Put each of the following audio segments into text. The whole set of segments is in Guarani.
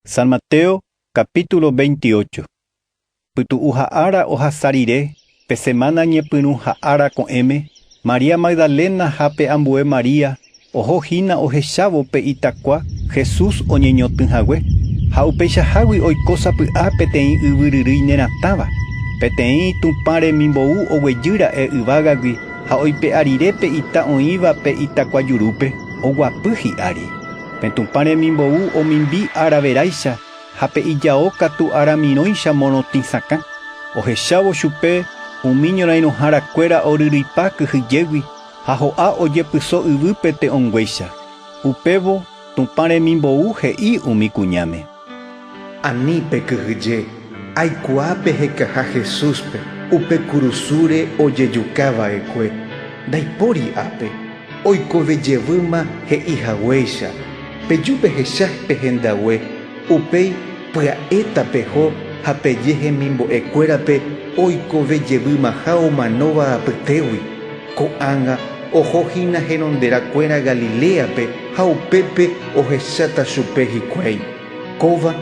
San Mateo capítulo 28. Pytu'u ha ára ohasa rire, pe semana ñepyrũ ha ára ko'ẽme, María Magdalena ha pe ambue María oho hína ohechávo pe itakua Jesús oñeñotỹ hague. Ha upeichahágui oiko sapy'a peteĩ yvyryrýi neratãva. Peteĩ Tupã remimbou oguejy ra'e yvágagui ha oipe'a rire pe ita oĩva pe itakua jurúpe, oguapy hi'ári. Pe Tupã remimbou omimbi araveráicha ha pe ijao katu aramirõicha morotĩ sakã, ohechávo chupe umi ñorairõhára kuéra oryryipa kyhyjégui ha ho'a ojepyso yvýpe te'õnguéicha. Upévo Tupã remimbou he'i umi kuñáme: Ani pekyhyje, aikuaa pehekaha Jesúspe upe kurusúre ojejuka va'ekue, ndaipóri ápe, oikove jevýma he'i haguéicha, peju pehecha pe hendague, upéi pya'éta peho ha peje hemimbo'e kuérape oikove jevýmaha omanóva apytégui. Ko'ág̃a oho hína heronderã kuéra Galiléape ha upépe ohecháta chupe hikuái, Kóva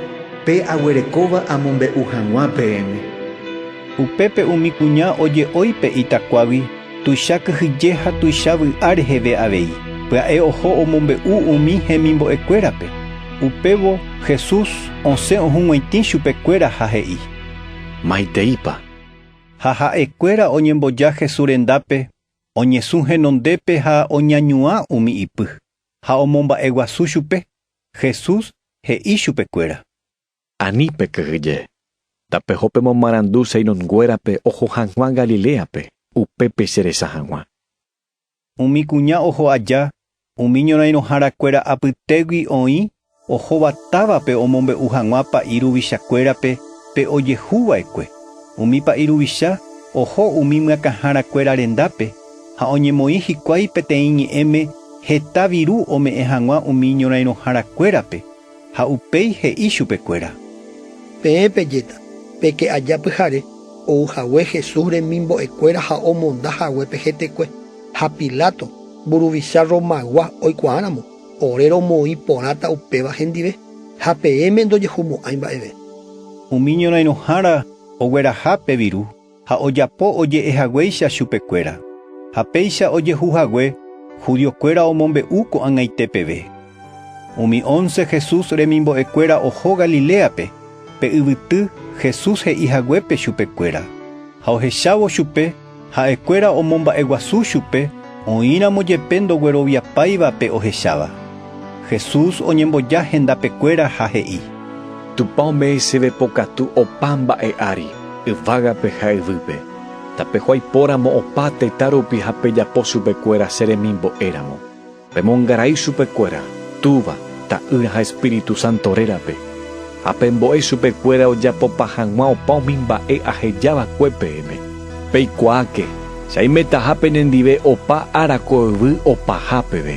pe aguerekóva amombe'u hag̃ua peẽme. Upépe umi kuña oje'ói pe itakuágui tuicha kyhyje ha tuicha vy'a reheve avei, pya'e oho omombe'u umi hemimbo'e kuérape. Upévo Jesús osẽ ohug̃uaitĩ chupe kuéra ha he'i. Maiteípa! Ha ha'ekuéra oñemboja Jesús rendápe, oñesũ henondépe ha oñañuã umi ipy, ha omomba'eguasu chupe. Jesús he'i chupekuéra. Ani pekyhyje. Tapeho pemomarandu Simón-nguérape oho hag̃ua Galiléape, upépe cheresa hag̃ua. Umi kuña oho aja umi ñorãirõhára kuéra apytégui oĩ ohóva távape omombe'u hag̃ua pa'i ruvicha kuérape pe ojehu vaekue. Umi pa'i ruvicha oho umi myakãhára kuéra rendápe ha oñemoĩ hikuái peteĩ ñe'ẽme heta viru ome'ẽ hag̃ua umi ñorãirõhára kuérape. Ha upéi he'i chupekuéra. Peẽ pejéta, peke aja pyhare, ou hague Jesús remimbo'ekuéra ha omonda hague pe hetekue. Ha Pilato, mburuvicha Romaygua oikuaáramo, ore romoĩ porãta upéva hendive, ha peẽme ndojehumo'ãi mba'eve. Umi ñorãirõhára ogueraha pe viru. ha ojapo oje'e haguéicha chupekuéra. Ha péicha ojehu hague, judiokuéra omombe'u ko'ag̃aite peve. Umi ónce Jesús remimbo'ekuéra oho Galiléape, pe yvyty Jesús he'i haguépe chupekuéra. Ha ohechávo chupe, ha'ekuéra omomba'eguasu chupe, Oĩramo jepe ndogueroviapáiva pe ohecháva, Jesús oñemboja hendapekuéra ha he'i. Tupã ome'ẽ chéve pokatu opa mba'e ári, yvágape ha yvýpe, tapehuái póramo opa tetã rupi ha pejapo chupekuéra che remimbo'éramo. Pemongarai chupekuéra, Túva, Ta'ýra ha Espíritu Santo rérape. Ha pembo'e chupe kuéra ojapopa hag̃ua opa umi mba'e aheja va'ekue peẽme. Peikuaáke, che aimetaha penendive opa ára ko yvy opaha peve.